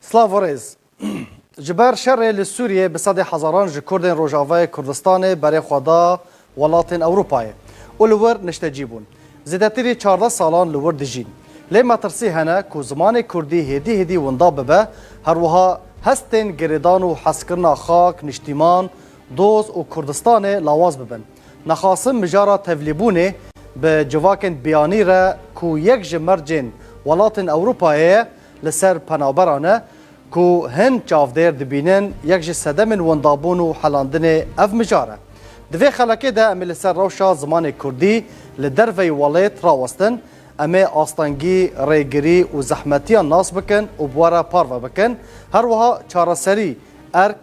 Slav û rêz. Ji ber şerê li Sûriyê bi sedê hezaran ji Kurdên Rojavayê Kurdistanê berê xwe da welatên Ewropayê û li wir niştecî bûn. Zêdetirî çardeh salan li wir dijîn. Lê metirsî hene ku zimanê Kurdî hêdî hêdî winda bibe, herwiha hestên girêdan û hezkirina xak, niştîman, doz û Kurdistanê lawaz bibin. Nexasim mijara tevlîbûnê bi civakên biyanî re ku yek ji mercên welatên Ewropayê ye, Li ser penaberan e ku hin çavdêr dibînin, yek ji sedemên wendabûn û helandinê ev mijar e. Di vê xelekê de em ê li ser rewşa zimanê kurdî li derveyî welêt rawestin, em ê astengî, rêgirî û zehmetiyan nas bikin û bi we re parve bikin, her wiha çareserî, erk,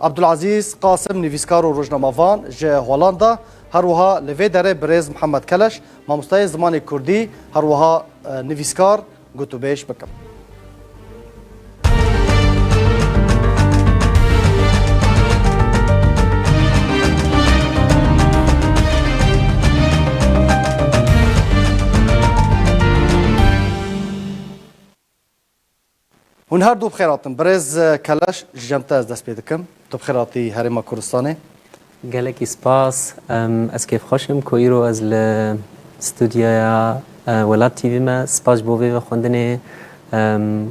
Abdulazîz Qasim nivîskar û rojnamevan ji Holanda, her wiha li vê derê birêz Mihemed Keleş, mamosteyê zimanê kurdî, her wiha nivîskar gotûbêj bikim. Hûn her du bi xêr hatin. Birêz Keleş, ji cem te ez dest pê dikim. Tu bi xêr hatî Herêma Kurdistanê. Gelekî spas. Ez kêfxweş im ku îro ez li studyoya Welat TV me. Spas ji bo vê vexwendinê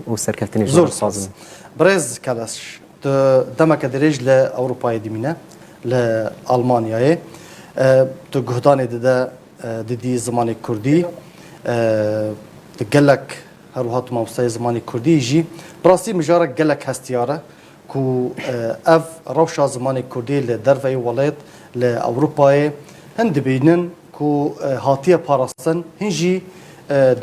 û serkeftinê ji we re dixwazim. Zor spas. Birêz Keleş, tu demeke dirêj li Ewropayê dimîne, li Almanyayê. Tu guhdanê dide Didî zimanê kurdî di gelek her wiha tu mamosteyê zimanê kurdî yî jî bi rastî mijarek gelek hestiyar e ku ev rewşa zimanê kurdî li derveyî welêt li Ewropayê hin dibînin ku hatiye parastin hin jî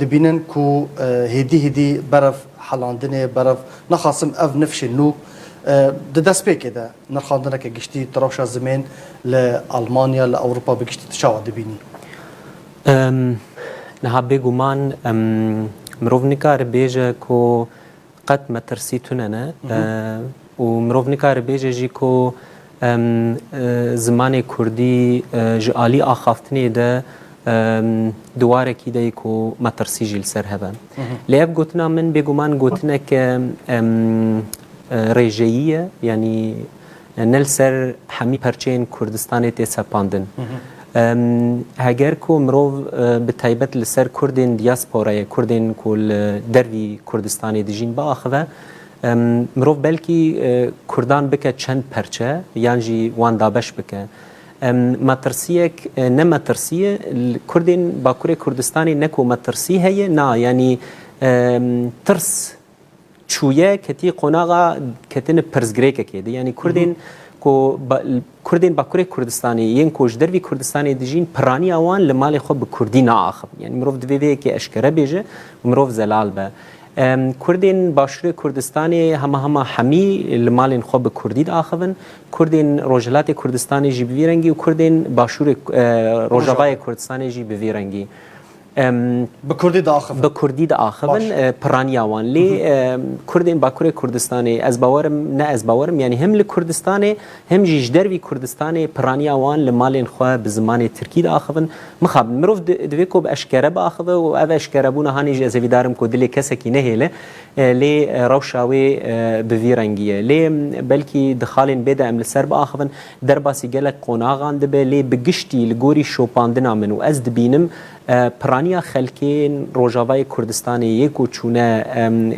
dibînin ku hêdî hêdî berev helandinê berev naxasim ev nifşê nû di destpêkê de Nirxandineke giştî ti rewşa zimên li Almanya, li Ewropa bi giştî ti çawa dibînî? Niha bêguman mirov nikare bêje ku qet metirsî tune ne û mirov nikare bêje jî ku zimanê kurdî ji alî axaftinê de Di warekî de yê ku me tirsî jî li ser hebe. Lê ev gotina min bêguman gotinek rêjeyî ye yanî ne li ser hemî perçeyên Kurdistanê tê sepandin. Heger ku mirov bi taybet li ser Kurdên diyasporayê, Kurdên ku li dervî Kurdistanê dijîn biaxive, mirov belkî Kurdan bike çend perçe yan jî wan dabeş bike. Metirsiyek ne metirsî ye. Li Kurdên Bakurê Kurdistanê ne ku metirsî heye, na yanî tirs çûye ketî qonaxa ketini pirsgirêkekê de. Yanî Kurdên ku Kurdên Bakurê Kurdistanê yên ku ji dervî Kurdistanê dijîn piraniya wan li malê xwe bi Kurdî naaxivin. Yanî mirov divê vê yekê eşkere bêje û mirov zelal be. Kurdên Başûrê Kurdistanê hema hema hemî li malên xwe bi Kurdî diaxivin. Kurdên Rojhilatê Kurdistanê jî bi vî rengî û Kurdên Başûrê Rojavayê Kurdistanê jî bi vî rengî bi Kurdî diaxivin. Bi Kurdî diaxivin piraniya wan. Lê Kurdên Bakurê Kurdistanê ez bawerim ne ez bawerim yanî him li Kurdistanê him jî ji dervî Kurdistanê piraniya wan li malên xwe bi zimanê Tirkî diaxivin. Mixabin mirov divê ku bi eşkere biaxive û ev eşkerebûna hanê jî ez hêvîdar im ku dilê kesekî nehêle. Lê rewşa wê bi vî rengî ye. Lê belkî di xalên bê de em li ser biaxivin, derbasî gelek qonaxan dibe lê bi giştî li gorî şopandina min û ez dibînim piraniya xelkên Rojavayê Kurdistanê yê ku çûne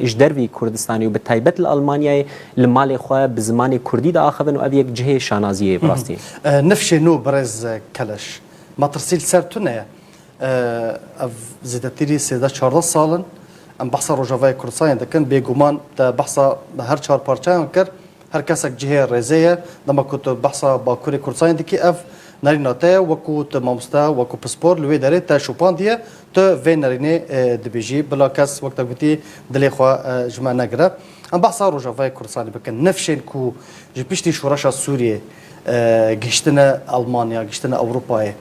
ji dervî Kurdistanê û bi taybet li Elmanyayê li malê xwe bi zimanê Kurdî diaxivin û ev yek cihê şanaziyê ye bi rastî. Nifşê nû Birêz Keleş, metirsî li ser tu ne ye. Ev zêdetirî sêzdeh çardeh sal in. Em behsa Rojavayê Kurdistanê dikin. Bêguman te behsa her çar parçeyan kir. Her kesek cihê rêzê ye. Dema ku tu behsa Bakurê Kurdistanê dikî ev nerîna te ye. Wek ku tu mamoste, wek ku pispor li wê derê te şopandiye. Tu vê nerînê dibêjî. Bila kes wek te gotî dilê xwe ji me negire. Em behsa Rojavayê Kurdistanê bikin. Nifşên ku ji piştî şoreşa Sûriyê Gihiştine Elmanya, gihiştine Ewropayê.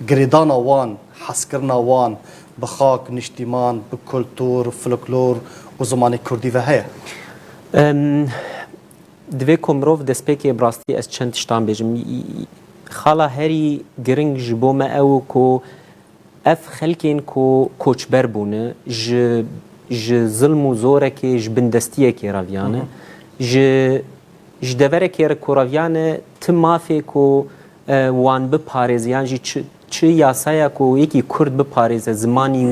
Girêdana wan, hezkirina wan bi xak, niştîman, bi kultur, foloklor û zimanê kurdî ve heye? Divê ku mirov destpêkê bi rastî ez çend tiştan bêjim. Xala herî giring ji bo me ew ku Ev xelkên ku koçber bûne ji ji zilm û zorekê ji bindestiyekê re viyane. Ji ji deverekê re ku re viyane ti mafê ku wan biparêze yan jî çi çi yasaya ku yekî kurd biparêze zimanî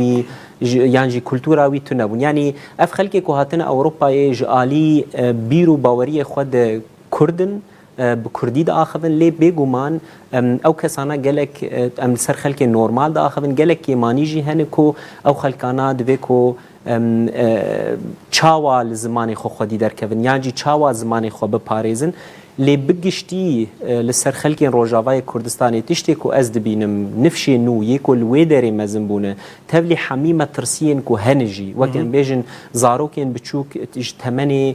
wî yan jî kultura wî tune bûn. Yanî ev xelkê ku hatine Ewropayê ji alî bîr û baweriyê xwe de kurd in bi kurdî diaxivin lê bêguman ew kesana gelek em li ser xelkê normal diaxivin gelek kêmanî jî hene ku ew xelkana divê ku çawa li zimanê xwe xwedî derkevin yan jî çawa zimanê xwe biparêzin lê bi giştî li ser xelkên Rojavayê Kurdistanê tiştê ku ez dibînim nifşê nû yê ku li wê derê mezin bûne tevlî hemî metirsiyên ku hene jî wek em bêjin zarokên biçûk ji temenê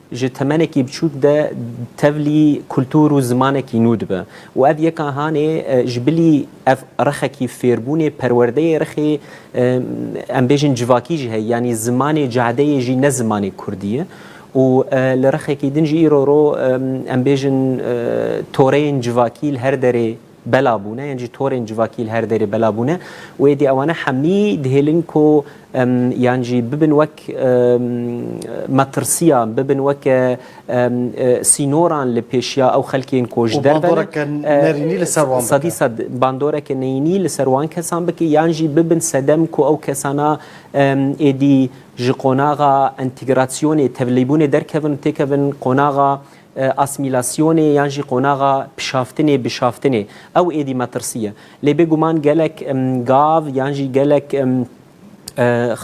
ji temenekî biçûk de tevlî kultur û zimanekî nû dibe û ev yeka hanê ji bilî ev rexekî fêrbûnê perwerdeyê rexê em bêjin civakî jî heye yanî zimanê cadeyê jî ne zimanê kurdî ye û li rexekî din jî îro ro em bêjin toreyên civakî li her derê bela bûne yên jî torên civakî li her derê bela bûne û êdî ewane hemî dihêlin ku yan jî bibin wek metirsiyan bibin weke sînoran li pêşiya ew xelkên ku ji dervenî li ser wan sedî sed bandoreke neyînî li ser wan kesan bike yan jî bibin sedem ku ew kesana êdî ji qonaxa entegrasyonê tevlîbûnê derkevin têkevin qonaxa asmîlasyonê yan jî qonaxa pişaftinê, bişaftinê ew êdî metirsî ye. Lê bêguman gelek gav yan jî gelek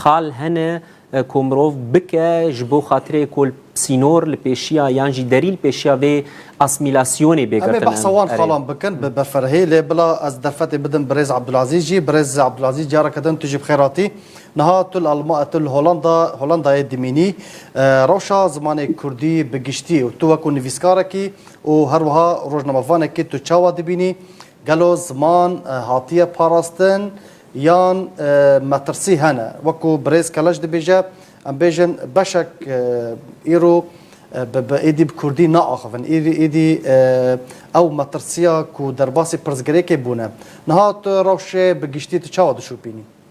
xal hene ku mirov bike ji bo xatirê ku sînor li pêşiya yan jî derî li pêşiya vê asmîlasyonê bê girtin. Em ê behsa wan xalan bikin bi beferhê. Lê bila ez derfetê bidim birêz Ebdulazîz jî. Birêz Ebdulazîz careke din tu jî bi xêr hatî. Niha tu li Holanda Holandayê dimînî. Rewşa zimanê kurdî bi giştî û tu wekû nivîskarekî û her wiha rojnamevanekî tu çawa dibînî? Gelo ziman hatiye parastin yan metirsî hene? Wekû birêz Keleş dibêje em bêjin beşek îro bi êdî bi kurdî naaxivin. Êdî ew metirsiya ku derbasî pirsgirêkê bûne. Niha tu rewşê bi giştî tu çawa dişopînî?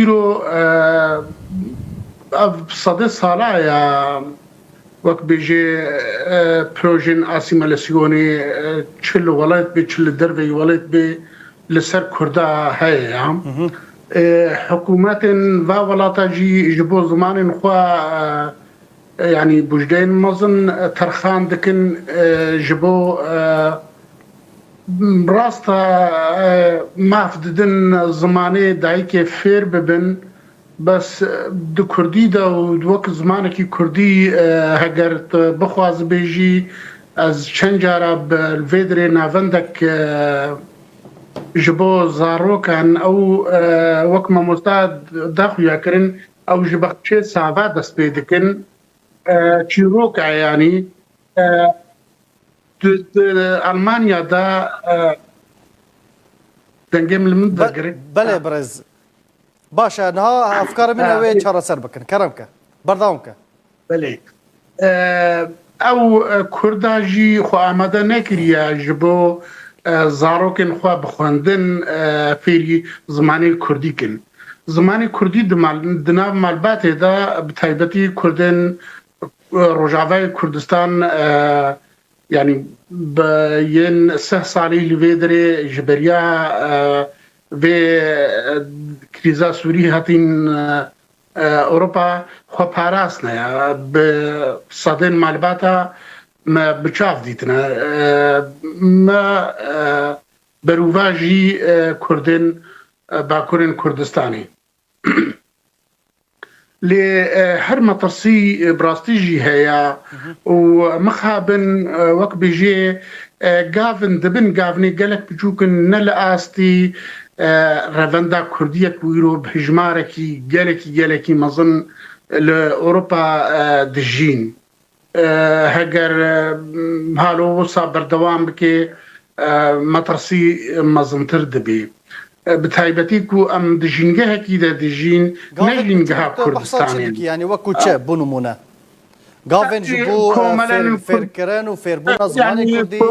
Îro ev sede sala ye wek bêje projeyên asîmalasyonê çi li welêt bê çi li derveyî welêt bê li ser kurda heye ya. Hikûmetên va welata jî ji bo zimanên xwe yanî bujdeyên mezin terxan dikin ji bo Rast e mav didin zimanê dayikê fêr bibin bes di kurdî de û wek zimanekî kurdî heger tu bixwazibêjî ez çend cara bi li vê dirê navendek ji bo zarokan ew wek mamosta daxuya kirin ew ji bexçê sava dest pê dikin çîrok e yanî Tu di Elmanya de dengê min li min vegirê. Belê birêz. Baş e, niha efkarê min ew ê çareser bikin. Kerem ke. Berdewam ke. Belê. Ew Kurda jî xwe amade nekiriye ji bo zarokên xwe bi xwendin fêrî zimanê Kurdî kin. Zimanê Kurdî di nav malbatê de bi taybetî Kurdên Rojavayê Kurdistan yanî bi yên seh salî li vê derê ji beriya vê krîza Sûrî hatîn Ewropa xwe parastine ya bi sedên malbata me bi çav dîtine me berûvajî Kurdên Bakurên Kurdistanê. Lê her metirsî bi rastî jî heye û mixabin wek bêjê gavin dibin gavinê gelek biçûk in ne li astî revenda kurdî ye ku îro bi hijmarekî gelekî gelekî mezin li Ewropa dijîn. Heger halo wisa berdewam bike metirsî mezintir dibê. Bi taybetî ku em di jîngehekî de dijîn ne jîngeha Kurdistanê. Yanî wekû çi bo nimûne? Gavên ji bo fêrkirin û fêrbûna zimanê Kurdî ew.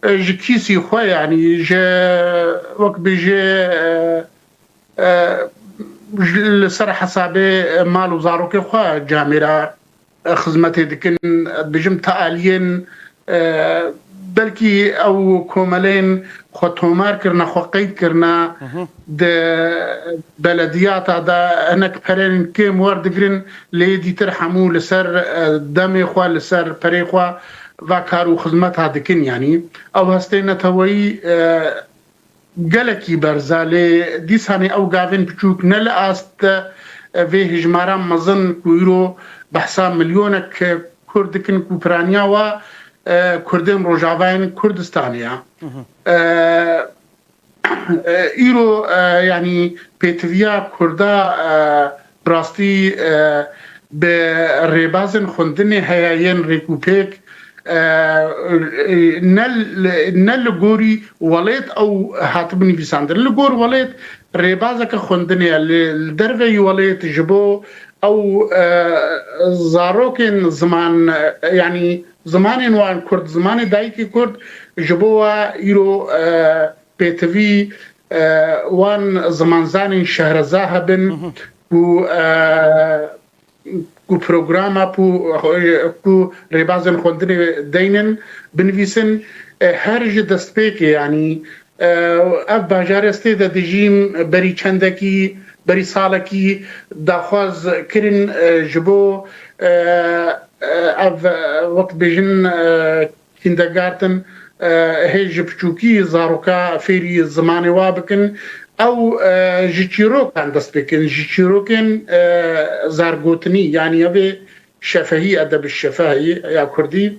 Ji kîsî xwe yanî ji wek bêjê li ser hesabê mal û zarokê xwe camê re xizmetê dikin, dibêjim ti aliyên belkî ew komeleyên xwe tomar kirine, xwe qeyd kirine. Di belediyata de hinek pereyên kêm werdigirin lê yê dîtir hemû li ser demê xwe, li ser perê xwe ve kar û xizmeta dikin. Yanî ew hestê neteweyî gelekî berz e lê dîsanê ew gavên piçûk ne li ast de vê hijmara mezin ku îro behsa milyonek kurd dikin ku piraniya we kurdên rojavayên Kurdistanê ye. Îro yanî pêtiviya kurda bi rastî bi rêbazên xwendinê heye yên rêkûpêk ne li gorî welêt ew hatibin nivîsandin. Li gor welêt rêbazeke xwendinê ye li derve yî welêt ji bo ew zarokên ziman yanî Zimanên wan kurd, zimanê dayikê kurd ji bo we îro pêtivî wan zimanzanên şehrezahe bin ku ku programa ku ku rêbazên xwendinê deyn in binivîsin her ji destpêkê yanî Ev bajar ez tê de dijîm berî çendekî, berî salekî daxwaz kirin ji bo ev wek dibêjin Kindergarten hê ji piçûkî zaroka fêrî zimanê wa bikin. Ew ji çîrokan dest pê kirin, ji çîrokên zargotinî yanî ev ê şefehî edeb şefeh ya kurdî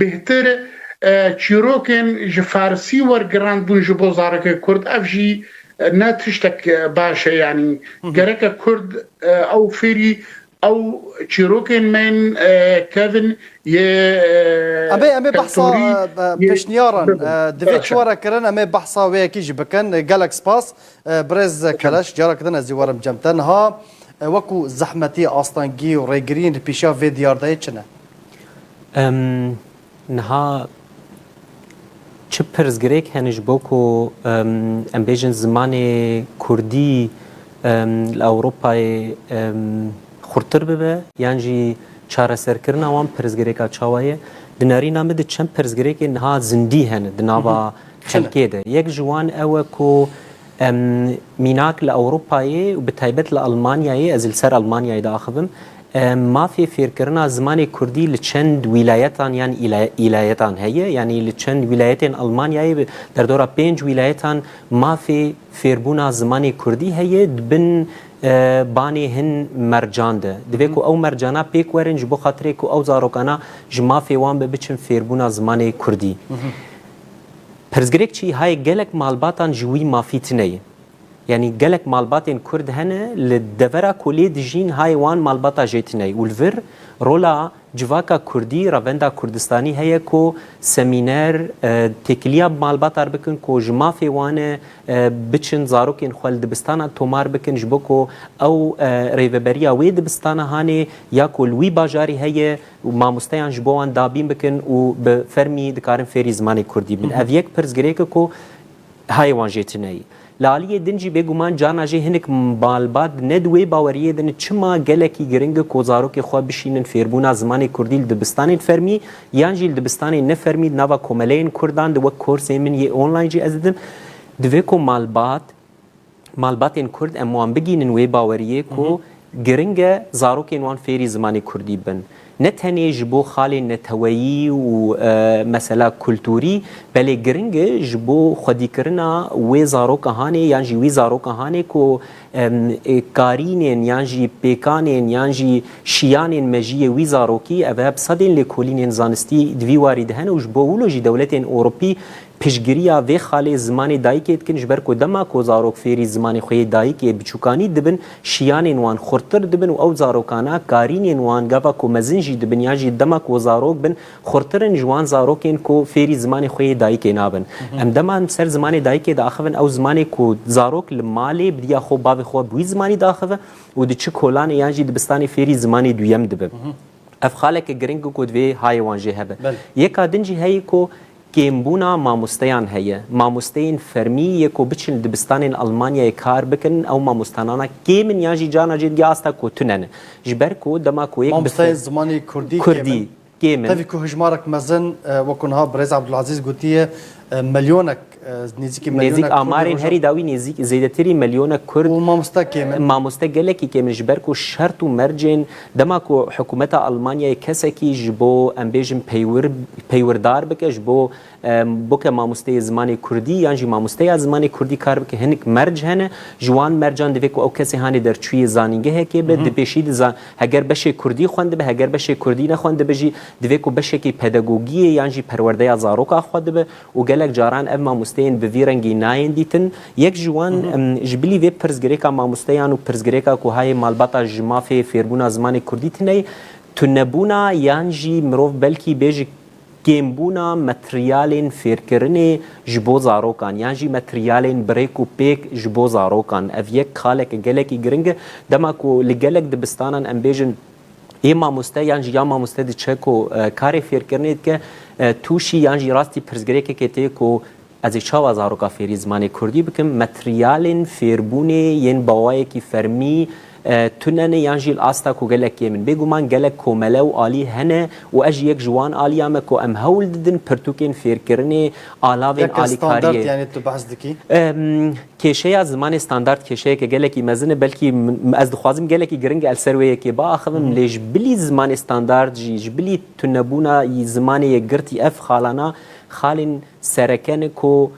Bêhtir e çîrokên ji farsî wergirandbûn ji bo zarokê kurd ev jî ne tiştek baş e yanî gereke kurd ew fêrî ew çîrokên me yên kevin yê Em ê em ê behsa keltorî yê pêşniyaran bibin. divê Baş e. çiware kirin em ê behsa wê yekê jî bikin. Gelek spas birêz Keleş carekê din ez jî werim cem te. Niha wekû zehmetî, astengî û rêgiriyên li pêşiya vê diyardeyê çi ne? Em niha çi pirsgirêk hene ji bo ku em bêjin zimanê Kurdî li Ewropayê xurtir bibe yan jî çareserkirina wan pirsgirêka çawa ye? Di nerîna min de çend pirsgirêkên niha zindî hene di nava xelkê de. Yek ji wan ew e ku Em mînak li Ewropayê û bi taybet li Elmanyayê, ez li ser Elmanyayê diaxivim, mafê fêrkirina zimanê kurdî li çend wîlayetan yan îlayetan heye. Yanî li çend wîlayetên Elmanyayê bi derdora pênc wîlayetan mafê fêrbûna zimanê kurdî heye di bin banê hin mercan de. Divê ku ew mercana pêk werin ji bo xatirê ku ew zarokana ji mafê wan be biçin fêrbûna zimanê kurdî. Pirsgirêk çi haye gelek malbatan ji wî mafî tine ye. Yanî gelek malbatên Kurd hene li devera ku lê dijîn haye wan malbata jê tine ye û li vir rola civaka Kurdî, revenda Kurdistanî heye ku semîner, têkiliya bi malbatar bikin ku ji mafê wan e biçin zarokên xwe li dibistanan tomar bikin ji bo ku ew rêveberiya wê dibistana hanê ya ku li wî bajarî heye û mamosteyan ji bo wan dabîn bikin û bi fermî dikarin fêrî zimanê kurdî bin. Ev yek pirs girêk e ku hayê wan jê tune yî. Li aliyê din jî bêguman carna jê hinek malbat ne di wê baweriyê de ne çima gelekî giring e ku zarokê xwe bişînin fêrbûna zimanê kurdî li dibistanên fermî yan jî li dibistanên ne fermî di nava komeleyên kurdan de wek korsên min yê online jî ez didim divê ku malbat malbatên Kurd em wan bigihînin wê baweriyê ku giring e zarokên wan fêrî zimanê Kurdî bin. Ne tenê ji bo xalên neteweyî û mesela kulturî belê giring e ji bo xwedîkirina wê zaroka hanê yan jî wî zaroka hanê ku karînên yan jî pêkanên yan jî şiyanên mejiyê wî zarokî ev e bi sedên lêkolînên zanistî di vî warî de hene û ji bo wilo jî dewletên Ewropî Piştgiriya vê xalê zimanê dayikê dikin ji ber ku dema ku zarok fêrî zimanê xwe yê dayikê ê biçûkanî dibin şiyanên wan xurttir dibin û ew zarokana karînên wan gava ku mezin jî dibin yan jî dema ku zarok bin xurttir in ji wan zarokên ku fêrî zimanê xwe yê dayikê nabin. Em dema em ser zimanê dayikê diaxivin ew zimanê ku zarok li malê bi diya xwe û bavê xwe bi wî zimanî diaxive û di çi kolanê yan jî dibistanê fêrî zimanê duyem dibe. Ev xaleke giring in ku divê hayê wan jê hebe. Yeka din jî heye ku kêmbûna mamosteyan heye. Mamosteyên fermî yê ku biçin li dibistanên Elmanyayê kar bikin ew mamostanana kêm in yan jî carna jê digê asta ku tune ne. Ji ber ku dema ku yek bi Mamosteyên zimanê kurdî kêm in. Tevî ku hijmarek mezin wek ku niha birêz Abdulazîz gotiye Milyonek nêzîkî Nêzîk amarên herî dawî nêzîk zêdetirî milyonek Kurd û mamoste kêm in. Mamoste gelekî kêm in ji ber ku şert û mercên dema ku hikûmeta Elmanyayê kesekî ji bo em bêjin peywir peywirdar bike ji bo boke mamosteyê zimanê Kurdî yan jî mamosteya zimanê Kurdî kar bike hinik merc hene. Ji wan mercan divê ku ew kesê hanê derçûyê zanîngehekê be dipêşî di Heger beşê kurdî xwendibe, heger beşê kurdî nexwendibe jî divê ku beşekî pedagogiyê yan jî perwerdeya zaroka xwe dibe û gelek caran ev mamosteyên bi vî rengî nayên dîtin. Yek ji wan ji bilî vê pirsgirêka mamosteyan û pirsgirêka ku hayê malbata ji mafê fêrbûna zimanê kurdî tune ye, tunebûna yan jî mirov belkî bê ji kêmbûna materyalên fêrkirinê ji bo zarokan yan jî materyalên birêk û pêk ji bo zarokan. Ev yek xaleke gelekî giring e. Dema ku li gelek dibistanan em bêjin yê mamoste yan jî ya mamoste diçe ku karê fêrkirinê dike tûşî yan jî rastî pirsgirêkekê tê ku Ez ê çawa zaroka fêrî zimanê kurdî bikim? Materyalên fêrbûnê yên bawayekî fermî tune ne yan jî li asta ku gelek kêm in. Bêguman gelek komele û alî hene û ez jî yek ji wan aliya me ku em hewl didin pirtûkên fêrkirinê, alavên alîkariyê. Yeke standard yanî tu behs dikî? Kêşeya zimanê standard kêşeyeke gelekî mezin e. Belkî ez dixwazim gelekî giring e li ser wê yekê biaxivim lê ji bilî zimanê standard jî, ji bilî tunebûna zimanê yekgirtî ev xalana xalên Serekeni ku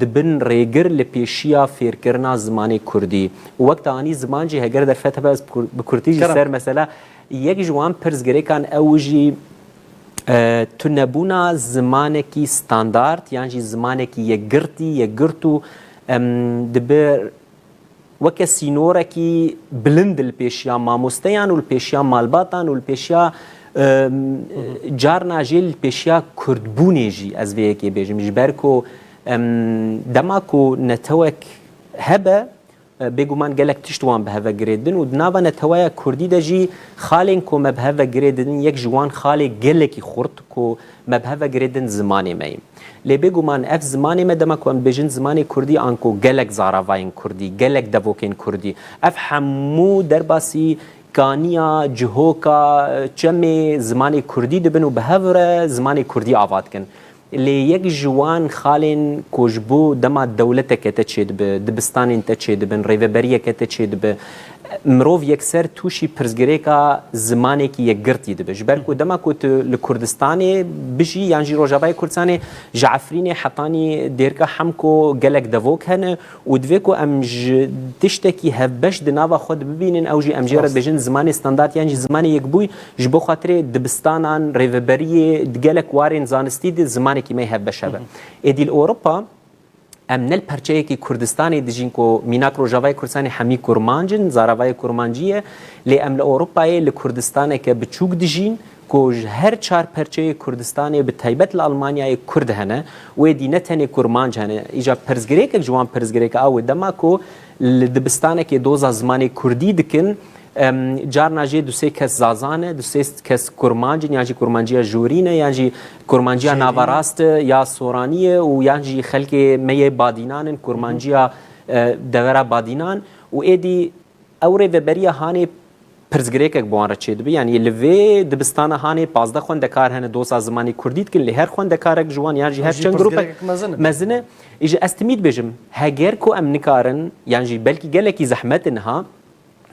di bin rêgir li pêşiya fêrkirina zimanê kurdî û wek te anî ziman jî heger derfet hebe ez bi kurtî jî ser mesela yek ji wan pirsgirêkan ew jî tunebûna zimanekî standard yan jî zimanekî yekgirtî yekgirt û dibi weke sînorekî bilind li pêşiya mamosteyan û li pêşiya malbatan û li pêşiya carna jê li pêşiya kurdbûnê jî ez vê yekê bêjim ji ber ku dema ku netewek hebe bêguman gelek tişt wan bi heve girê din û di nava neteweya kurdî de jî xalên ku me bi heve girê didin yek ji wan xalê gelekî xurt ku Me bi hev vegirê din zimanê me ye. Lê bêguman ev zimanê me dema ku em dibêjin zimanê Kurdî anko gelek zaravayên Kurdî, gelek devokên Kurdî, ev hemû derbasî kaniya, cihoka, çemê zimanê Kurdî dibin û bi hev re zimanê Kurdî ava dikin. Lê yek ji wan xalên ku ji bo dema dewleteke te çêdibe, dibistanên te çêdibin, rêveberiyeke te çêdibe, Mirov yekser tûşî pirsgirêka zimanekî yekgirtî dibe. Ji ber ku dema ku tu li Kurdistanê bijî yan jî Rojavayê Kurdistanê ji Efrînê hetanî dêrka Hemko gelek devok hene û divê ku em ji tiştekî hevbeş di nava xwe de bibînin ew jî em jê re dibêjin zimanê standard yan jî zimanê yekbûy ji bo xatirê dibistanan, rêveberiyê di gelek warên zanistî de zimanekî me hevbeş hebe. Êdî li Ewropa Em ne li perçeyekî Kurdistanê dijîn ku mînak Rojavayê Kurdistanê hemî kurmanc in, zaravayê kurmancî ye, lê em li Ewropayê li Kurdistaneke biçûk dijîn ku ji her çar perçeyê Kurdistanê bi taybet li Elmanyayê Kurd hene. Wê dî ne tenê kurmanc hene. Îcar pirsgirêkek ji wan pirsgirêk a wê dema ku Li dibistanekê doza zimanê kurdî dikin, carna jê du sê kes Zaza ne, du sê kes Kurmanc in yan jî Kurmanciya Jorî ne yan jî Kurmanciya Navarast e ya Soranî ye û yan jî xelkê me yê Badînan in Kurmanciya Devera Badînan û êdî ew rêveberiya hanê Pirsgirêkek bi wan re çêdibe, yanî li vê dibistana hanê pazdeh xwendekar hene dosa zimanê kurdî dikin lê her xwendekarek ji wan yan jî her çend grûpek mezin e. Îje ez timî dibêjim heger ku em nikarin yan jî belkî gelekî zehmet e niha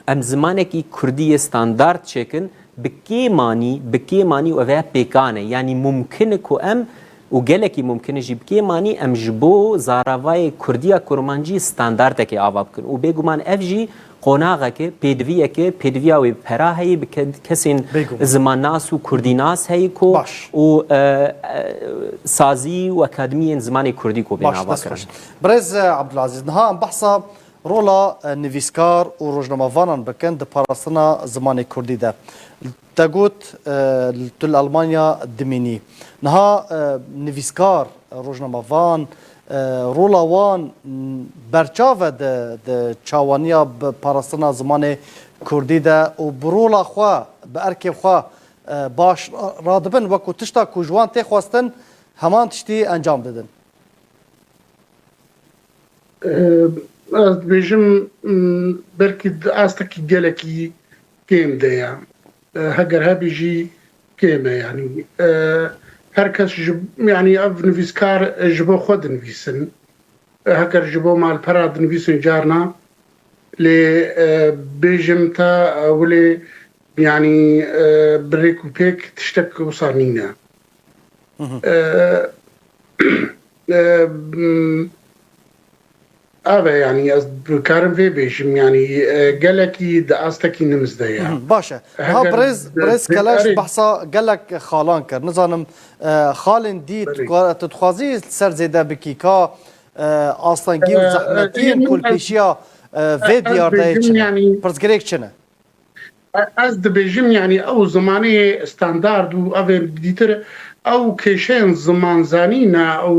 em zimanekî kurdî yê standard çêkin bi kê manî bi kê manî û ev ya pêkan e yanî mumkin e ku em û gelekî mumkin e jî bi kê manî em ji bo zaravayê kurdî ya kurmancî standardekê ava bikin û bêguman ev jî Qonaxekê, pêdiviyekê, pêdiviya wê bi pera heyî bi kesên zimannas û kurdînas heyî ku û sazî û akademiyên zimanê kurdî ku bên ava kirin. Birêz Abdulazîz, niha em behsa rola nivîskar û rojnamavanan bikin di parastina zimanê kurdî de. Te got tu li Almanya dimînî. Niha nivîskar, rojnamevan, rola wan berçav e di çawaniya bi parastina zimanê kurdî de û bi rola xwe, bi erkê xwe baş radibin wekû tişta ku ji wan tê xwestin heman tiştî encam didin. Ez dibêjim belkî astekî gelekî kêm de ye. Heger hebî jî kêm e yanî her kes ji yanî ev nivîskar ji bo xwe dinivîsin. Heger ji bo malpera dinivîsin carna lê bêjim te wilê yanî bi rêk û pêk tiştek wisa nîne. Ev e yanî ez dikarim vê bêjim yanî gelekî di astekî nims de ye. Baş e. Niha birêz birêz Keleş behsa gelek xalan kir. Nizanim xalên dî tu dixwazî li ser zêde bikî ka astengî û zehmetiyên ku li pêşiya vê diyardeyê çi ne? Pirsgirêk çi ne? Ez dibêjim yanî ew zimanê standard û ev ên dî tir ew kêşeyên zimanzanî ne û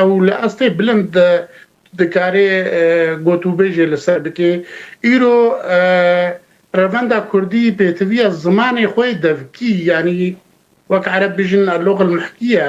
ew li estê bilind dikarê gotûbêjê li ser bikê. Îro revenda kurdî pêtiviya zimanê xwe devkî yanî wek ereb bijin elogh el-mehkî ye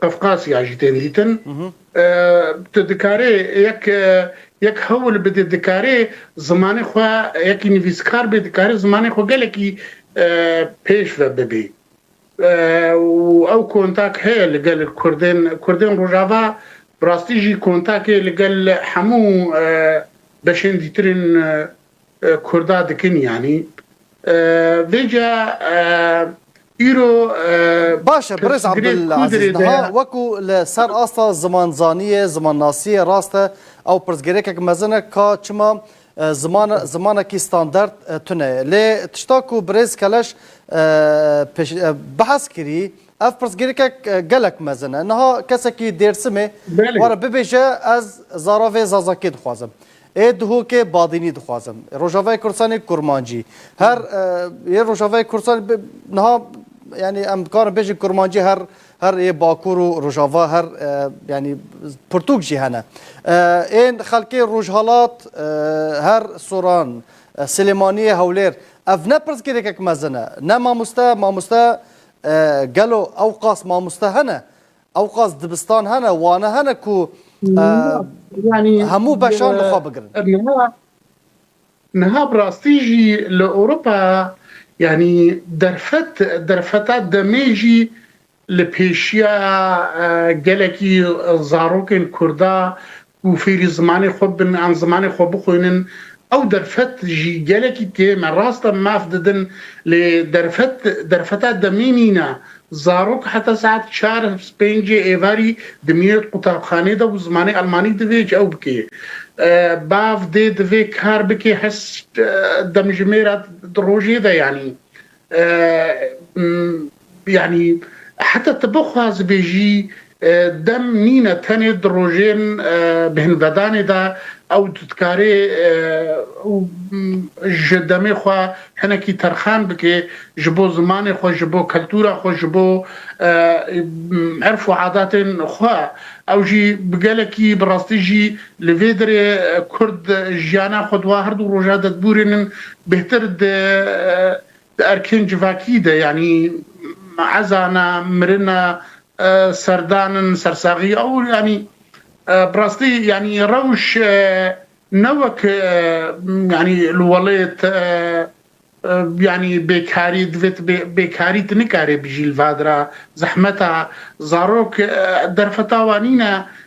Qafqasya jî tên dîtin. Tu dikarê yek yek hewil bidê dikarê zimanê xwe yekî nivîskar bê dikarê zimanê xwe gelekî pêş ve bibê. Ew kontak heye li gel Kurdên Kurdên Rojava bi rastî jî kontakê li gel hemû beşên dîtirên Kurda dikin yanî vêca îro. Baş e Birêz Abdulazîz niha wekû li ser asta zimanzaniyê, zimannasiyê rast e ew pirsgêrekek mezin e ka çima ziman zimanekî standard tune ye. Lê tişta ku Birêz Keleş behs kirî ev pirsgêrekek gelek mezin e. Niha kesekî Dêrsimê were bibêje ez zara vê Zazakiyê dixwazim. Ê dihokê Badînî dixwazim. Rojavayê Kurdistanê kurmancî. Her yê Rojavayê Kurdistanê bi niha yanî em dikarin bêjin kurmancî her her yê Bakur û Rojava her yanî pirtûk jî hene. Ên xelkê Rojhilat her Soran, Silêmaniyê, Hewlêr ev ne pirsgirêkek mezin e. Ne mamoste, mamoste gelo ew qas mamoste hene? Ewqas dibistan hene, wane hene ku hemû beşan li xwe bigirin. Niha bi rastî jî li Ewropa yanî derfet derfeta demê jî li pêşiya gelekî zarokên Kurda û fêrî zimanê xwe bibin an zimanê xwe bixwînin. Ew derfet jî gelekî tê, me rast e maf didin lê derfet derfeta demê nîne. Zarok heta saet çar pêncê êvarî dimîne qutabxanê de û zimanê elmanî divê ew bike. Bav dê divê kar bike heşt demjimêra di rojê de yanî Yanî heta tu bixwazî bêjî dem nîne tenê di rojên bêhnvedanê de ew tu dikarê ji demê xwe hinekî terxan bikê ji bo zimanê xwe, ji bo kultura xwe, ji bo erf û adatên xwe. Ew jî bi gelekî bi rastî jî li vê derê kurd jiyana xwe di wan her du roja de dibûrînin Bêhtir di di erkên civakî de yanî ezana, mirina, serdanin, sersaxî ew yanî bi rastî yanî rewş ne wek yanî li welêt yanî bêkarî divê tu bê bêkarî tu nikarê bijî li vadira zehmeta zarok derfeta wan nîne.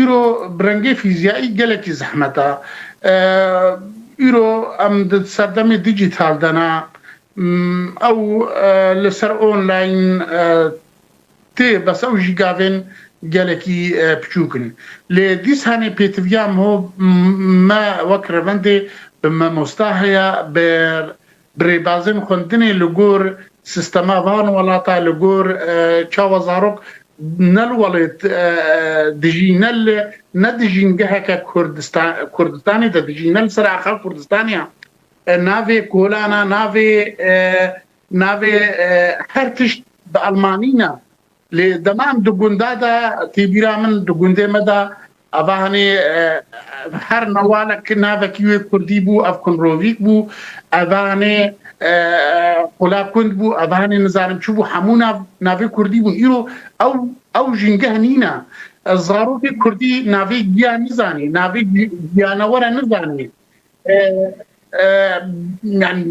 Îro bi rengê fîzyayî gelekî zehmet e. Îro em di serdemê dîjîtal de ne. Ew li ser online tê bes ew jî gavên gelekî piçûk in. Lê dîsanê pêtiviya me wek revendê bi memosta heye, bi Bi rêbazên xwendinê li gor sîstema van welata, li gor çawa zarok ne li welê dijî ne li ne dijîn geheke Kurdistanê de dijî ne li ser axa Kurdistanê ya navê kolana navê navê her tişt bi elmanî ne Lê dema em di gunda de tê bîra min di gundê me de ava hanê her newalek navekî wê kurdî bû ev kunrovîk bû eva hanê qola kund bû eva hanê nizanim çi bû hemû nav navê kurdî bûn îro ew ew jîngeh nîne zarokê kurdî navê giya nizanî navê giyanewere nizanî yani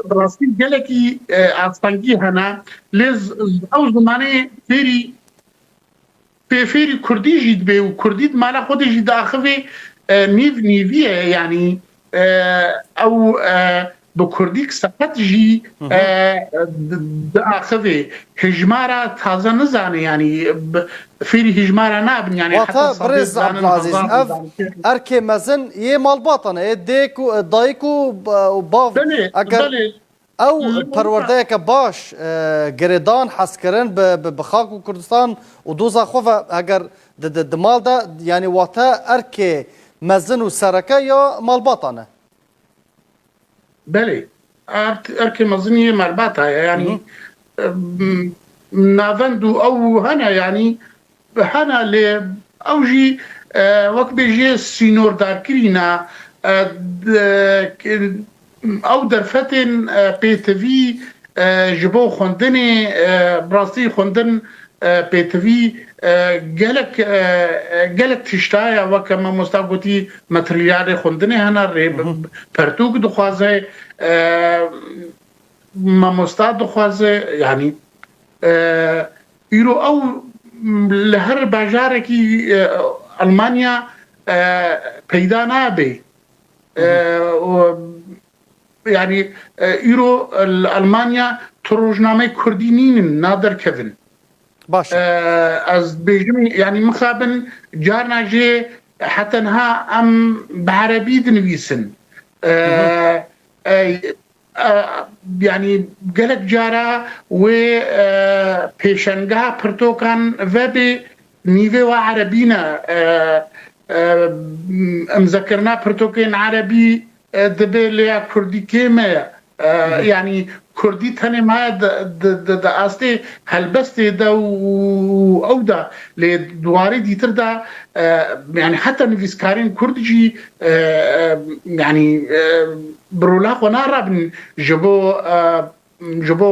Bi rastî gelekî astengî hene lê ew zimanê fêrî pê fêrî kurdî jî dibê û kurdî di mala xwe de jî diaxivê nîv nîvî ye yanî ew bi kurdî seqet jî diaxivê hijmara taze nizanê yanî Fêrî hîjmara nabin yanî heta Wate sedê birêz dizanin Abdulazîz hezar ev dizanin kê. erkê mezin yê malbatan e, yê dêk û dayik û bav Belê eger belê ew li wisa perwerdeyeke baş, girêdan, hezkirin bi bi xak û Kurdistan û doza xwe ve eger di di di mal de yanî wate erkê mezin û sereke ya malbatan e. Belê erd erkê mezin yê merbata ye yanî navend û ew hene yanî hene lê ew jî wek bêjê sînordarkirîna ew derfetên pêtivî ji bo xwendinê bi rastî xwendin Pêtivî gelek gelek tişt heye weke mamosta gotî materialê xwendinê hene rê pertûk dixwaze mamosta dixwaze yanî îro ew li her bajarekî Elmanya peyda nabê Yanî îro li Elmanya tu rojnameyê kurdî nînin naderkevin. Baş e. Ez dibêjim yanî mixabin carna jê heta niha em bi erebî dinivîsin. Yanî gelek cara wê pêşengeha pirtokan vebê nîvê we erebî ne. Imzekirina pirtokên erebî Divê lêya kurdî kê me ye? Yanî kurdî tenê ma ye di astê helbestê de û ew de lê di warê dîtir de yanî heta nivîskarên kurd jî yanî bi rola xwe narabin ji bo ji bo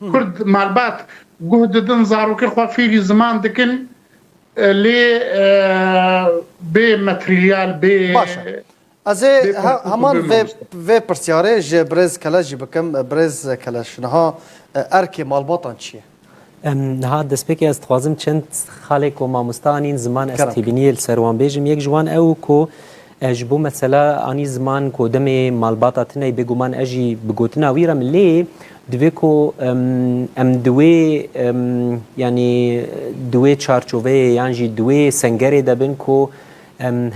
Kurd malbat guh didin zarokên xwe fêrî ziman dikin lê bê materyal bê Baş e. Ez ê heman vê vê pirsyarê ji birêz Keleş jî bikim. Birêz Keleş niha erkê malbatan çi ye? Niha destpêkê ez dixwazim çend xalê ku mamosta anîn ziman ez têbîniyê li ser wan bêjim. Yek ji wan ew ku E ji bo mesela anî ziman ku demê malbata tineyî bêguman e jî bi gotina wî re min lê divê ku em di wê yanî di wê çarçoveyê yan jî di wê sengerê de bin ku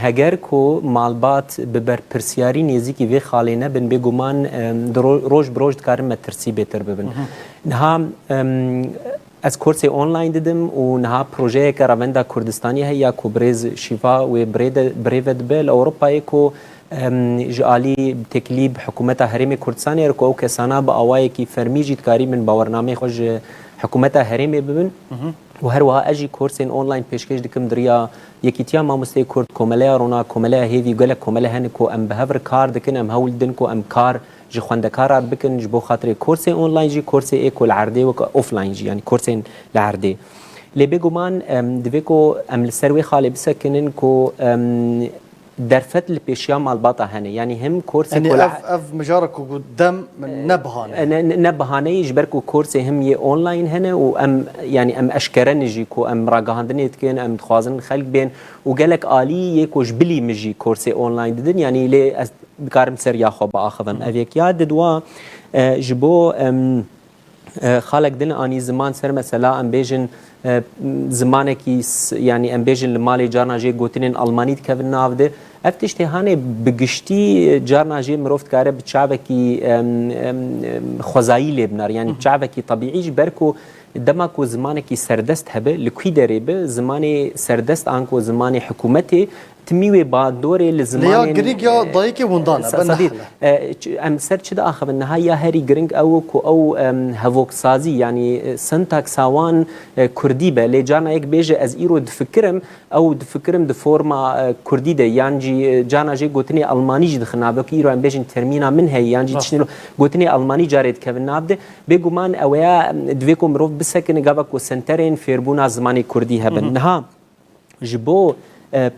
heger ku malbat bi berpirsiyarî nêzîkî vê xalê nebin bêguman roj bi roj dikarin metirsî bêtir bibin. Niha Ez kursê online didim û niha projeyeke Revenda Kurdistanî heye ya ku bi rêz şîva wê birêve dibe li Ewropayê ku ji alî bi têkilî bi hikûmeta herêmê Kurdistanê re ku ew kesana bi awayekî fermî jî dikarî bin bawernameyê xwe ji hikûmeta herêmê bibin û her wiha ez jî kursên online pêşkêş dikim di riya Yekîtiya Mamosteyê Kurd, Komeleya Rona, Komeleya Hêvî û gelek komele hene ku em bi hev re kar dikin, em hewl didin ku em kar Ji xwendekaran bikin ji bo xatirê korsê online jî korsê ê ku li erdê wek offline jî yanî korsên li erdê. Lê bêguman divê ku em li ser wê xalê bisekinin ku derfet li pêşiya malbata hene yanî him korsê ku li Ev ev mijara ku got dem ne bihane ye. Ne ne bihane ye ji ber ku korsê him yê online hene û em yanî em eşkere ne jî ku em ragihandinê dikin em dixwazin xelk bên û gelek alî yê ku ji bilî min jî korsê online didin yanî lê ez Dikarim seriya xwe biaxivim. Ev yek ya didwa ji bo xalek din anî ziman ser mesela em bêjin zimanekî yanî em bêjin li malê carna jê gotinên Almanî dikevin nav de. Ev tiştê hanê bi giştî carna jê mirov dikare bi çavekî xwezayî lê binar yanî çavekî tebîî ji ber ku dema ku zimanekî serdest hebe li kî derê bi zimanê serdest an ku zimanê hikûmetê Timî wê ba dorê li zimanên. Lê ya girîg ya dayikê windan e. Sadî em ser çi diaxivin niha ya herî giring ew ku ew hevoksazî yanî sintaksa wan kurdî be. Lê carna yek bêje ez îro difikirim ew difikirim di forma kurdî de yan jî carna jê gotinê elmanî jî dixin navê ku îro em bêjin termîna min heye yan jî tiştî gotinê elmanî carê dikevin nav de. Bêguman ew ya divê ku mirov bisekine gava ku senterên fêrbûna zimanê kurdî hebin. Niha. ji bo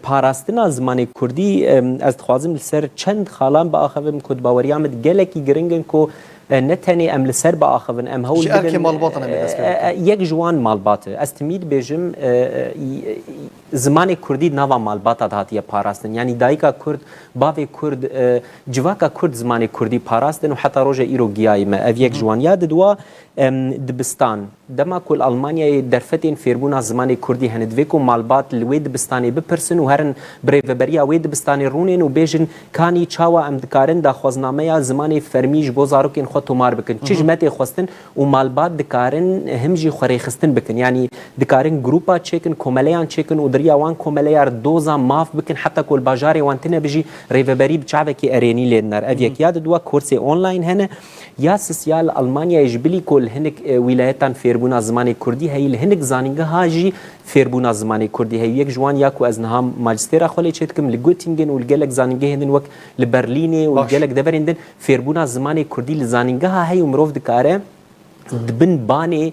parastina zimanê Kurdî ez dixwazim li ser çend xalan biaxivim ku di baweriya min gelekî giring in ku ne tenê em li ser biaxivin em hewl yek ji wan malbat e. Ez timî dibêjim zimanê Kurdî di nava malbata de hatiye parastin. Yanî dayika Kurd, bavê Kurd, civaka Kurd zimanê Kurdî parastin û heta roja îro giyayî me. Ev yek ji wan ya di dua dibistan. Dema ku li Almanyayê derfetên fêrbûna zimanê kurdî hene, divê ku malbat li wê dibistanê bipirsin û herin bi rêveberiya wê dibistanê rûnên û bêjin kanî çawa em dikarin daxwaznameya zimanê fermî ji bo zarokên xwe tomar bikin, çi ji me tê xwestin û malbat dikarin him jî xwerêxistin bikin. Yanî dikarin grûpa çêkin, komeleyan çêkin û di riya wan komeleyar doza maf bikin heta ku li bajarê wan tine bi jî rêveberî bi çavekî erênî lê dinar. Ev yek ya di dua korsê online hene. Ya sisya li Elmanyayê ji bilî ku li hinek wîlayetan fêrbûna zimanê kurdî heye, li hinek zanîngeha jî fêrbûna zimanê kurdî heye. Yek ji wan ya ku ez niha majistêra xwe lê çê dikim li Göttingen û li gelek zanîngehên din wek li Berlînê û li gelek deverên din fêrbûna zimanê kurdî li zanîngeha heye û mirov dikare di bin banê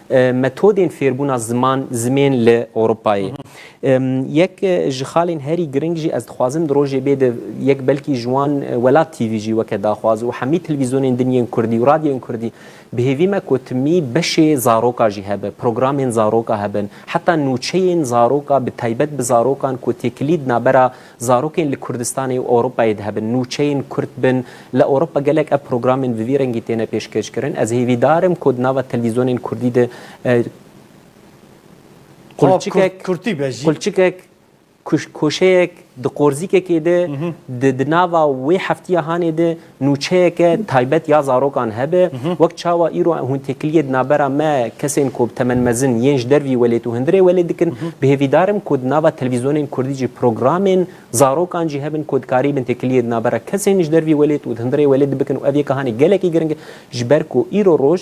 Metodên fêrbûna ziman zimên li Ewropayê. Yek ji xalên herî giring jî ez dixwazim di rojê bê di yek belkî ji wan Welat TV jî weke daxwaz û hemî televîzyonên din yên kurdî û radyoyên kurdî bi hêvî me ku timî beşê zaroka jî hebe, programên zaroka hebin. Heta nûçeyên zaroka bi taybet bi zarokan ku têkilîd nabera Zarokên li Kurdistanê û Ewropayê dihebin, nûçeyên Kurd bin, li Ewropa gelek ev programên bi vî rengî têne pêşkêşkirin. Ez hêvîdar im ku di nava televîzyonên Kurdî de qulçikek, qulçikek, koşeyek di qorzîkekê de, di nava wê heftiya hanê de, nûçeyeke taybet ya zarokan hebe, wek çawa îro hûn têkiliyê di navbera me kesên ku bi temen mezin yên ji dervî welêt û hundirê welêt dikin, bi hêvî dar im ku di nava televîzyonên kurdî jî programên zarokan jî hebin ku dikarî bin têkiliyê di navbera kesên ji dervî welêt û di hundirê welêt de bikin û ev yek a hanê gelekî giring e ji ber ku îro roj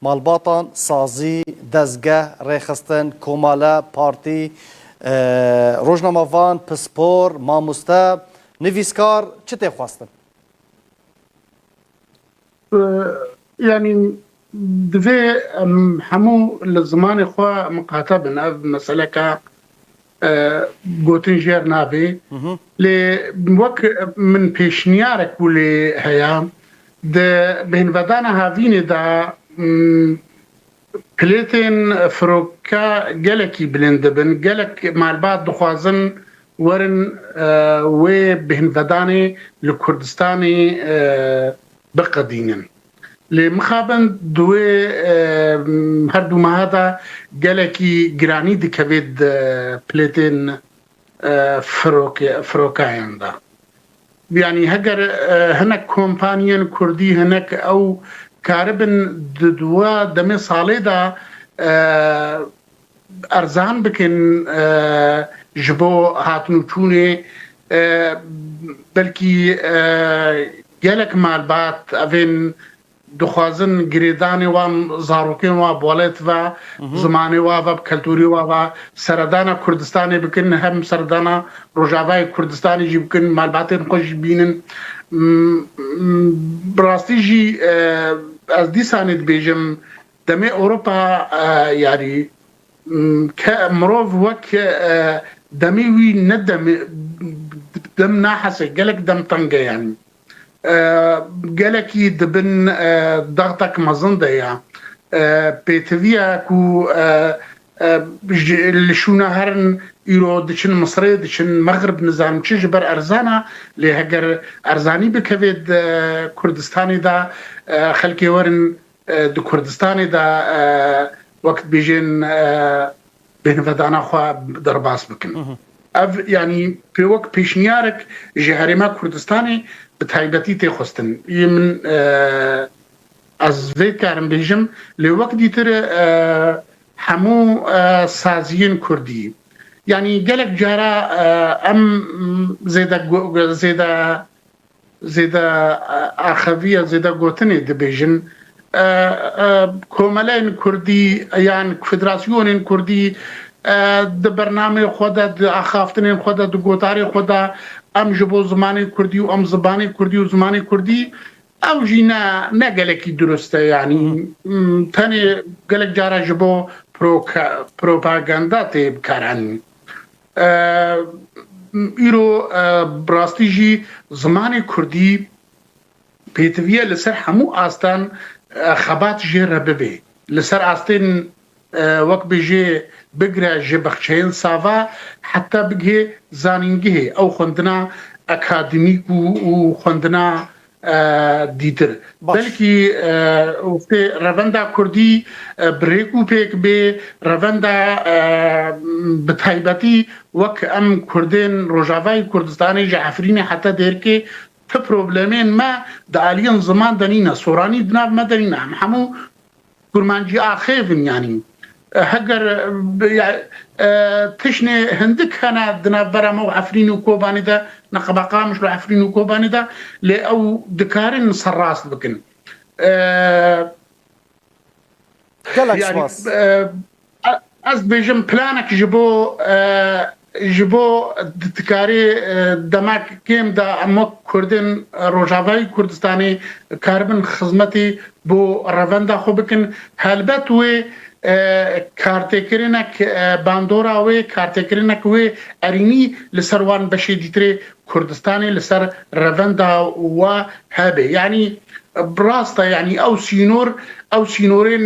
Malbatan, sazî, dezgeh, rêxistin, komale, partî, rojnamevan, pispor, mamoste, nivîskar çi tê xwestin? Yanî divê em hemû li zimanê xwe miqate bin. Ev meseleke gotin jêr nabê lê wek min pêşniyarek bû lê heya di bêhnvedana havînê de pilêtên firoka gelekî bilind dibin gelek malbat dixwazin werin wê bêhnvedanê li Kurdistanê biqedînin. Lê mixabin di wê her du meha de gelekî giranî dikevê di plêtên firokayan de. Yanî heger hinek kompaniyên kurdî hinek ew karibin di dua demê salê de erzan bikin ji bo hatin û çûnê belkî gelek malbat ev ên dixwazin girêdanê wan zarokên wan balet ve zimanê wan ve keltûrê wan ve seredana Kurdistanê bikin hem seredana Rojavayê Kurdistanê jî bikin malbatên xwe jî bînin bi rastî jî ez dîsanê dibêjim Demê Ewropa yarî ke mirov wek demê wî ne dem nahese gelek dem tenge yanî gelekî di bin daxtek mezin de ya. Pêtiviya ku li şûna herin îro diçin Misirê diçin Mexrib nizanim çi ji ber erzan a lê heger erzanî bikevê di Kurdistanê de xelkê werin Di Kurdistanê de wek dibêjin bêhnivdana xwe derbas bikin. Ev yanî pê wek pêşniyarek ji herêma Kurdistanê bi taybetî tê xwestin. Yê min ez vê dikarim bêjim lê wek dîtir hemû saziyên Kurdî yanî gelek cara em zêde Zêde axeviya zêde gotinê dibêjin komeleyên kurdî yan federasyonên kurdî di bernameyê xwe de di axaftinên xwe de di gotarê xwe de em ji bo zimanê kurdî û em zibanê kurdî û zimanê kurdî ew jî ne ne gelekî dirust e yanî tenê gelek cara ji bo propaganda tê bikaranîn. Îro bi rastî jî zimanê kurdî pêtiviye li ser hemû astan xebat jê re bibê. Li ser astên wek bêjê bigire ji bexçeyên sava heta bigihê zanîngehê ew xwendina akademîk û xwendina dîtir. Belkî wextê revenda kurdî bi rêk û pêk bê, revenda bi taybetî wek em kurdên Rojavayê Kurdistanê ji Efrînê heta Dêrkê ti problemên me di aliyên ziman de nîne. Soranî di nav me de nîne. Em hemû Kurmancî axê vinyanî. Heger tişnê hindik hene di navbera me û Efrîn û Kobanî de, Neqeba Qamiş û Efrîn û Kobanî de lê ew dikarin serrast bikin. Gelek spas. Ez dibêjim planek ji bo ji bo dikarî demek kêm de em wek Kurdên Rojavayî Kurdistanê karibin xizmetî bo revenda xwe bikin. Helbet wê kartêkirinek bandora wê, kartêkirinek wê erînî li ser wan beşê dîtirê Kurdistanê li ser revenda we hebe. Yanî bi rast e yanî ew sînor ew sînorên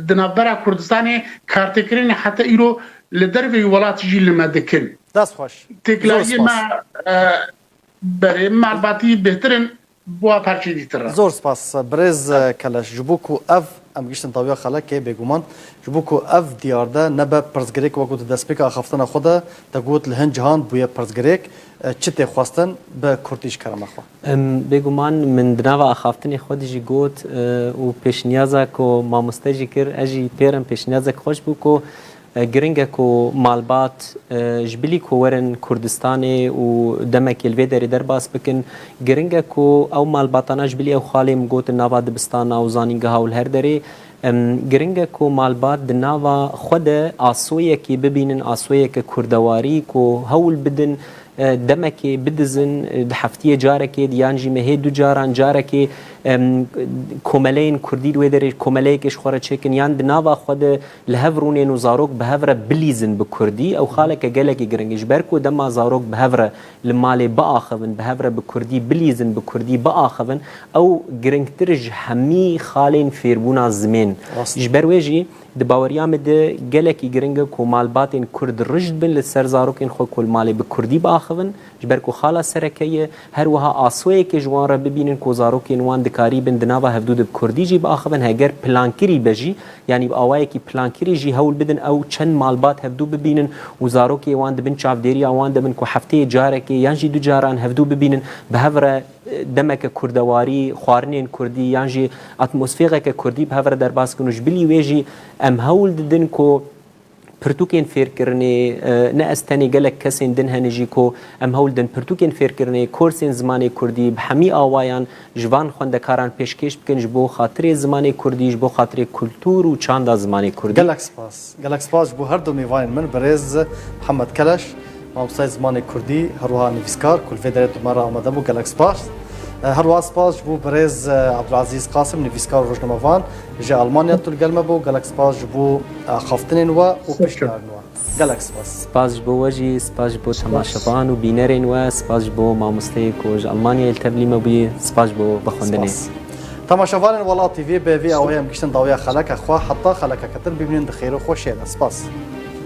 di navbera Kurdistanê kartêkirinê heta îro li derveyî welat jî li me dikin. Dest xweş. Têkilahiyên me berê malbatî bêhtir in. Bûa parçê dî tirr e. Zor spas birêz keleş ji bo ku ev em giştin tawiya xelekê bêguman ji bo ku ev diyarde nebe pirsgirêk wek û di destpêka axaftina xwe de te got li hin cihan bûye pirsgirêk çi tê xwestin bi kurtî ji kerema xwe. Bêguman min di nava axaftinê xwe de jî got û pêşniyaza ku mamoste jî kir ez jî pêr im pêşniyazek xweş bû ku Giring e ku malbat ji bilî ku werin Kurdistanê û demekê li vê derê derbas bikin, giring e ku ew malbatana ji bilî ew xalê min got di nava dibistana û zanîngeha û li her derê giring e ku malbat di nava xwe de asoyekê bibînin, asoyeke kurdewarî ku hewl bidin demekê bidizin di heftiyê carekê yan jî mehê du caran carekê komeleyên kurdî di wê derê komeleyekê ji xwe re çêkin yan di nava xwe de Li hev rûnên û zarok bi hev re bilîzin bi kurdî ew xaleke gelekî giring e. Ji ber ku dema zarok bi hev re li malê biaxivin, bi hev re bi kurdî bilîzin, bi kurdî biaxivin ew giringtir ji hemî xalên fêrbûna zimên. Ji ber wê jî di baweriya min de gelekî giring e ku malbatên kurd rijd bin li ser zarokên xwe ku li malê bi kurdî biaxivin Ji ber ku xala sereke ye, her wiha asoyekê ji wan re bibînin ku zarokên wan dikarîbin di nava hevdû de bi kurdî jî biaxivin, heger plankirî be jî, yanî bi awayekî plankirî jî hewl bidin ew çend malbat hevdû bibînin û zarokê wan di bin çavdêriya wan de bin ku hefteyê carekê yan jî du caran hevdû bibînin bi hev re demeke kurdewarî, xwarinên kurdî yan jî atmosfêxeke kurdî bi hev re derbas bikin û ji bilî wê jî em hewl didin ku Pirtûkên fêrkirinê, ne ez tenê gelek kesên din hene jî ku em hewl din pirtûkên fêrkirinê, korsên zimanê kurdî bi hemî awayan ji van xwendekaran pêşkêş bikin ji bo xatirê zimanê kurdî, ji bo xatirê kultûr û çanda zimanê kurdî. Gelek spas. Gelek spas ji bo herdu mêvanên min, birêz Mihemed Keleş. Mamostayê zimanê kurdî herwiha nivîskar kulîfê derê dûma re amade bû gelek spas. Herwiha spas ji bo birêz Abdulazîz Qasim nivîskar û rojnamevan ji Almanya tu li gel me bû. Gelek spas ji bo axaftinên we û piştgiran we. Gelek spas. Spas ji bo we jî, spas ji bo temaşevan û bînerên we, spas ji bo mamosteyê ku ji Almanyayê li tevlî me bûyî, spas ji bo we xwendinê. Temaşevanên Welat TV bi vî awayê em giştin dawiya xeleke xwe heta xeleke ketin bimînin di xêr û xweşiyê de. Spas.